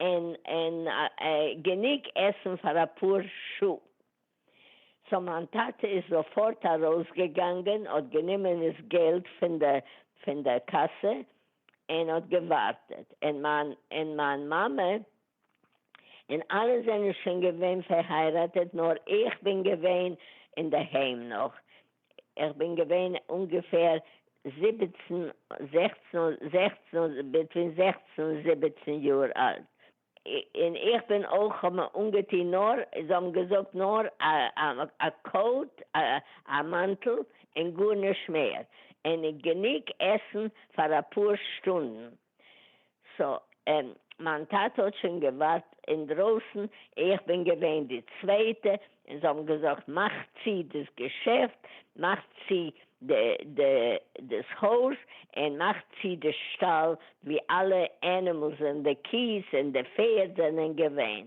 און און גענוג עסן פאר אפאר שעה. סאו מיין טאטע איז זאפארט ארויסגעגאנגען האט גענומען דאס געלט פון די פון די קאסע און האט געווארטעט און מיין און מיין מאמע און אלע זענען שוין געווען פערהייראטעט נאר איך בין געווען אינדערהיים נאך איך בין געווען אונגעפער זיבעצן זעכצן זעכצן ביטווין זעכצן און זיבעצן יאר אלט און איך בין אויך כ'האב מיר אנגעטוהן נאר זיי האבן געזאגט נאר א קאוט א מאנטל און גארנישט מער און גענוג עסן פאר אפאר שטונדן סא מיין טאטע האט שוין געווארט אינדרויסן, איך בין געווען די צווייטע, און זיי האבן געזאגט מאך צו דאס געשעפט, מאך צו דאס הויז, און מאך צו די שטאל ווי אלע ענימעלס און די קיעס און די פערד זענען געווען.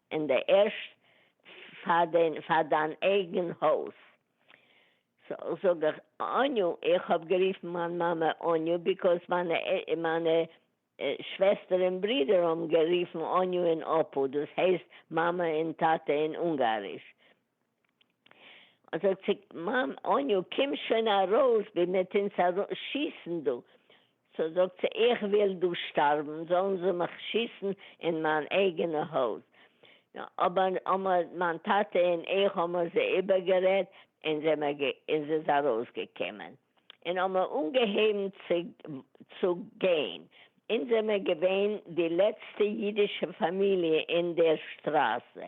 אין די ערשט פאר די פאר דיין אייגען הויז. סאו זאג איך אניו, איך האב גערופן מיין מאמע אניו ביקאוס מיינע מיינע שוועסטער און ברידער האבן גערופן אניו און אפו דאס הייסט מאמע און טאטע אין אונגאריש זאגט זי מאם אניו קום שוין ארויס בין מיט אונז ארויס שיסן דא, סאו זאגט זי איך וויל דא שטארבן זאלן זיי מיך שיסן אין מיין אייגענע הויז, אבער האמער מיין טאטע און איך האמער זיי איבערגערעדט און זיי האמער גע און סאיז ארויסגעקומען און האמער אנגעהויבן צו צו גיין, אונז זעמער געווען די לעצטע אידישע פאמיליע אין דער שטראזע,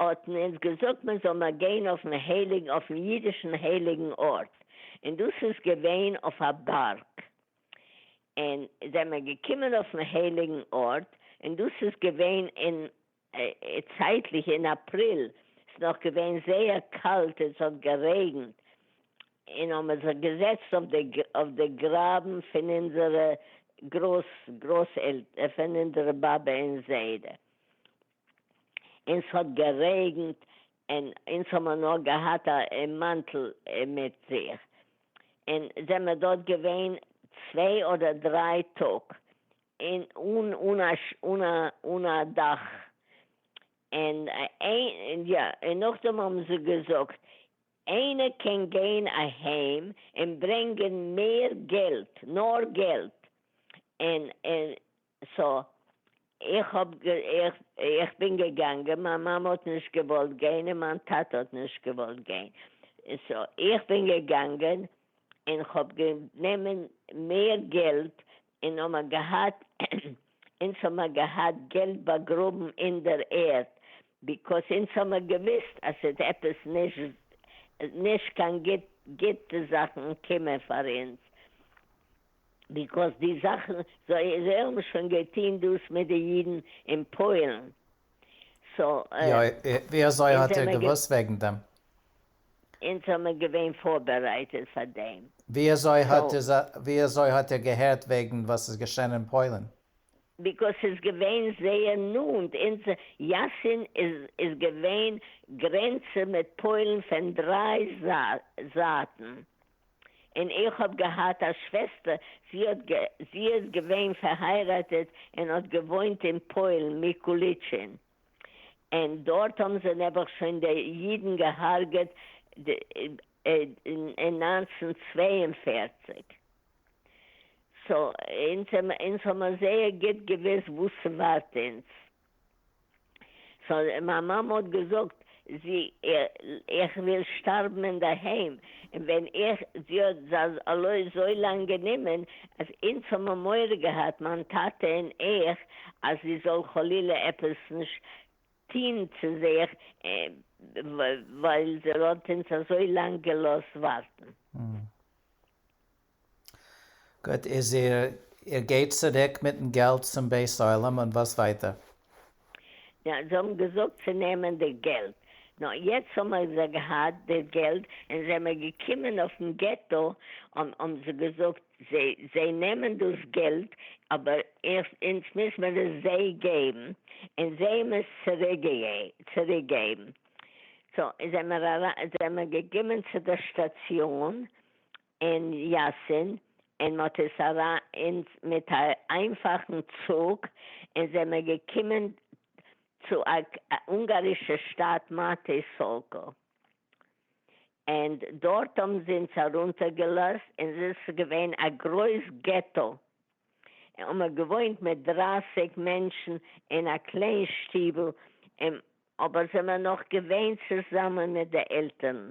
האט מען אונז געזאגט מען זאל נאר גיין אויפן הייליגן אויפן אידישן הייליגן ארט, און דאס איז געווען אויף א בארג, און זעמער געקומען אויפן הייליגן ארט, און דאס איז געווען אין צייטליך אין אפריל, ס'איז נאך געווען זייער קאלט און ס'האט גערעגנט, און האבן מיר זיך געזעצט אויף די גראבן פון אונזערע גרויס גרויס עלטער, פון אונזערע באבע און זיידע, און ס'האט גערעגנט און אונז האמער נאר געהאט א מאנטל מיט זיך און זעמער דארט געווען צוויי אדער דריי טאג און אן א אן א דאך און יא און נאכדעם האבן זיי געזאגט איינער קען גיין אהיים און ברענגען מער געלט נאר געלט און און סא איך האב איך בין געגאנגען מיין מאמע האט נישט געוואלט גיין און מיין טאטע האט נישט געוואלט גיין סא איך בין געגאנגען און כ'האב גענומען מער געלט און האמער געהאט אונז האמער געהאט געלט באגראבן אין דער ערד ביקאוס אונז האמער געוויסט אז ס'עט עפעס נישט נישט קיין גוט גוטע זאכן קומען פאר אונז. ביקאוס די זאכן זיי זיי האבן שוין געטוהן דאס מיט די אידן אין פוילן סאו ווי אזוי האט איר געוואוסט וועגן דעם? אונז זעמער געווען פארבערייטעט פאר דעם סאו. ווי אזוי האט איר געהערט וועגן וואס איז געשען אין פוילן? ביקאוס ס'איז געווען זייער נאנט אונז יאסין איז איז געווען גרענצען מיט פוילן פון דריי זייטן. אין איך האב געהאט א שוועסטער זי האט זי איז געווען פארהייראטעט אין האט געוואוינט אין פוילן מיקוליטשין אין דארט האבן זיי נעבעך שוין די אידן געהארגעט אין נײַנצן צוויי און פֿערציק סא אונז האמער זייער גיט געוויסט וואס ס'ווארט אונז. סאו מיין מאמע האט געזאגט זי איך וויל שטארבן אינדערהיים און ווען איך זי האט זז ל אזוי לאנג גענומען אז אונז האבן מורא געהאט מיין טאטע און איך אז זי זאל חלילה עפעס נישט טוהן צו זיך ווייל זי האט אונז אזוי לאנג געלאזט ווארטן. גוט, איז איר איר גייט צוריק מיטן געלט צום בית עולם און וואס ווייטער? יא, זיי האבן געזאגט צו נעמען די געלט. נו, יעצט האמער זיי געהאט די געלט און זעמער געקומען אויפן געטא, האבן זיי געזאגט זיי זיי נעמען דאס געלט אבער אונז מוז מען עס זיי געבן און זיי האבן עס צוריקגעבן. סאו זעמער אריין זעמער געקומען צו די שטאציאן אין יאסין אין מ'האט עס אריין אין מיט א איינפאכן צוג אין זענען מיר געקומען צו א אונגארישע שטאט מאטי סאלקא אין דארט האבן זיי אונז ארונטער געלאזט אין עס איז געווען א גרויס געטא אין מ'האט געוואוינט מיט דרייסיג מענטשן אין א קליין שטיבל אין אבער זענען מיר נאך געווען צוזאמען מיט די עלטערן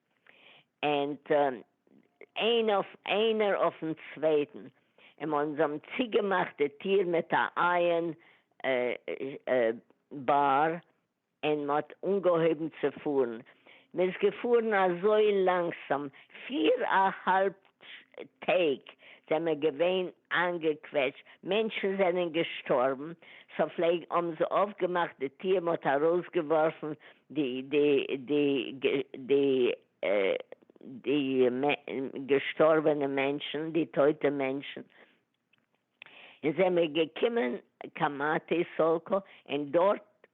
אונד איינער אויפן צווייטן, און אונז האבן צוגעמאכט די טיר מיט א אייען באר, און מ'האט אנגעהויבן צו פארן, מ'איז געפארן אזוי לאנגסאם, פיר אהאלב טעג זעמער געווען איינגעקוועטשט מענטשן זענען געשטארבן סא פלעג האבן זיי אויפגעמאכט די טיר מ'האט ארויסגעווארפן די די די די די געשטארבענע מענטשן די טויטע מענטשן און זעמער געקומען קיין מאטי סאלקא און דארט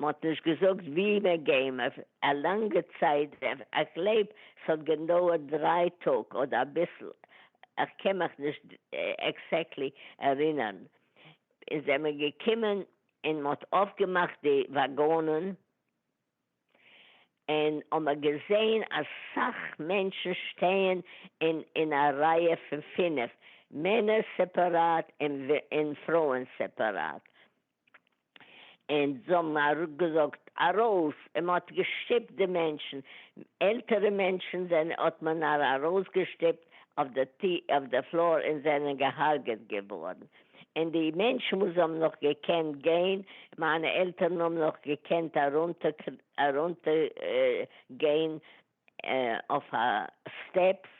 מ'האט נישט געזאגט ווי מען געים אויף א לאנגע צייט דעף איך גלייב ס'האט גענדויערט דריי טאג אדער אביסל איך קען מיך נישט עקסעקטלי ערינערן און זיי מען געקומען און מ'האט אויפגעמאכט די וואגאנען און האמער געזעהן אסאך מענטשן שטייען אין אין א רייע פון פֿינף מענער סעפעראט און פרויען סעפעראט און זיי האבן אראפגעזאגט ארויס, און מען האט געשטופט די מענטשן, עלטערע מענטשן זענען האט מען ארויסגעשטופט אויף די פלאר און זענען גע'הרג'עט געווארן, און די מענטשן וואס האבן נאך געקענט גיין, מיינע עלטערן האבן נאך געקענט ארונטער גיין אויף א סטעפס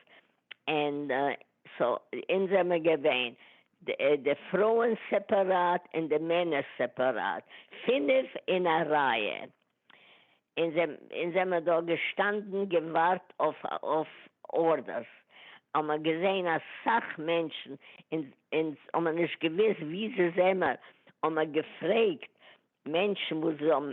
ענד סאו אונז זעמער געווען די פרויען סעפעראט און די מענער סעפעראט פינף אין א רייע אונז זעמער דארט געשטאנדן געווארט אויף ארדערס האמער געזען אסאך מענטשן אונז האמער נישט געוויסט ווי זי זעמער האמער געפרעגט מענטשן וואס זי האבן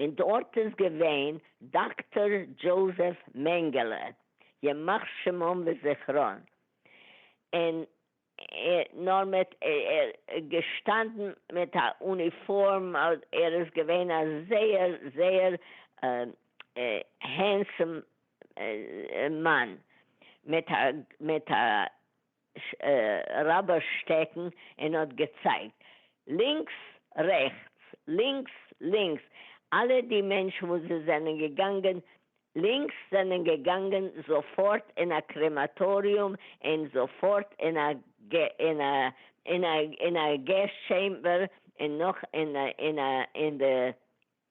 און דארט איז געווען דאקטאר דזשאוזעף מענגעלע ימח שמם וזכרון און נאר מיט געשטאנדן מיט א אוניפארם ער איז געווען א זייער זייער הענסעם מאן מיט א ש ע רבי שטעקן און האט געצייגט לינקס רעכטס לינקס לינקס, אלע די מענטשן וואס זיי זענען געגאנגען לינקס זענען געגאנגען זאפארט אין א קרעמאטאריום און זאפארט אין א אין א אין א אין א געז טשעימבער און נאך אין די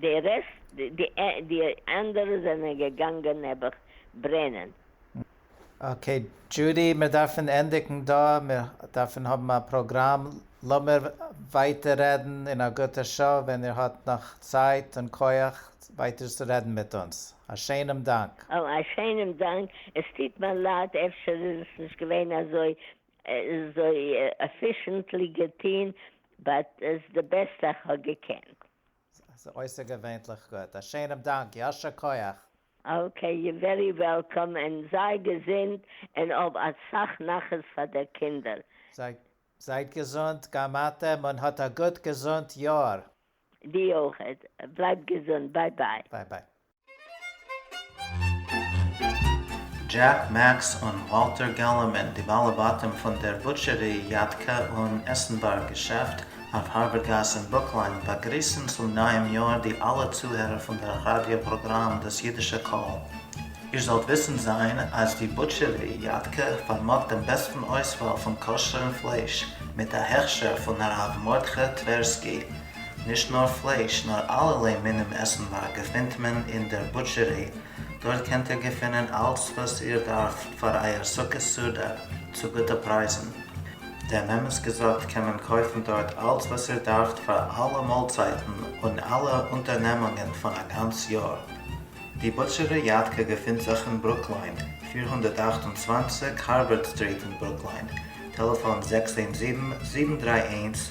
די רעסט די אנדערע זענען געגאנגען נעבעך ברענען. אקעי דזשודי מיר דארפן ענדיגן דא, מיר דארפן האבן א פראגראם, לאמיר ווייטער רעדן אין א גוטע שעה ווען איר האט נאך צייט און כח ווייטער צו רעדן מיט אונז, א שיינעם דאנק. א שיינעם דאנק, עס טוט מיר לייד אפשר איז עס נישט געווען אזוי אזוי עפישענטלי געטוהן באט איז די בעסטע איך האב געקענט. ס'איז אויסערגעווענליך גוט. א שענעם דאנק. יישר כח. אקעי, יו ווערי וועלקאם, און זיי געזונט, און האב אסאך נחת פאר דער קינדער. זייט געזונט גם אתם און האט א גוט געזונט יאר. די אויכעט, בלייב געזונט, ביי ביי. ביי ביי. דזשעק, מעקס און וואלטער געללערמאן, די בעלי בתים פון דער בוטשערי, יאטקע און עסנווארג געשעפט אויף הארבער גאס אין ברוקלין, באגריסן צום נייעם יאר די אלע צוהערער פון דער ראדיא פראגראם דאס אידישע קול. איר זאלט וויסן זיין אז די בוטשערי, יאטקע פארמאגט דעם בעסטן אויסוואל פון כשר'ן פלייש, מיט א הכשר פון הרב מרדכי טווערסקי, נישט נאר פלייש נאר אלערליי מינים עסנ וואר געפינט מען אין דער בוטשערי, דארט קענט איר געפינען אלץ וואס איר דארפט פאר אייער סוכות סעודה צו גוטע פרייזן. דעם אמת געזאגט קען מען קויפן דארט אלץ וואס איר דארפט פאר אלע מאלצייטן און אלע אונטערנעמונגען פון א גאנץ יאר. די בוטשערי יאטקע געפינט זיך אין ברוקליין, פֿיר הונדערט אַכט און צוואַנציק הארווארד סטריט אין ברוקליין, טעלעפאן זעקס איין זיבן, זיבן דרײַ איינס,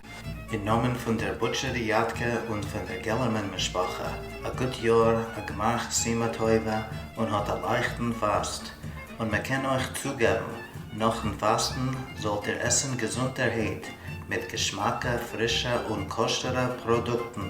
אין נאמען פון דער בוטשער ריאדקע און פון דער געלערמאן משפחה, א גוט יאר, א גמח סימא טובה און האט א לייכטן פאסט, און מען קען אויך צוגעבן, נאכן פאסטן זאלט איר עסן געזונטערהייט מיט געשמאקע, פרישע און כשר'ע פראדוקטן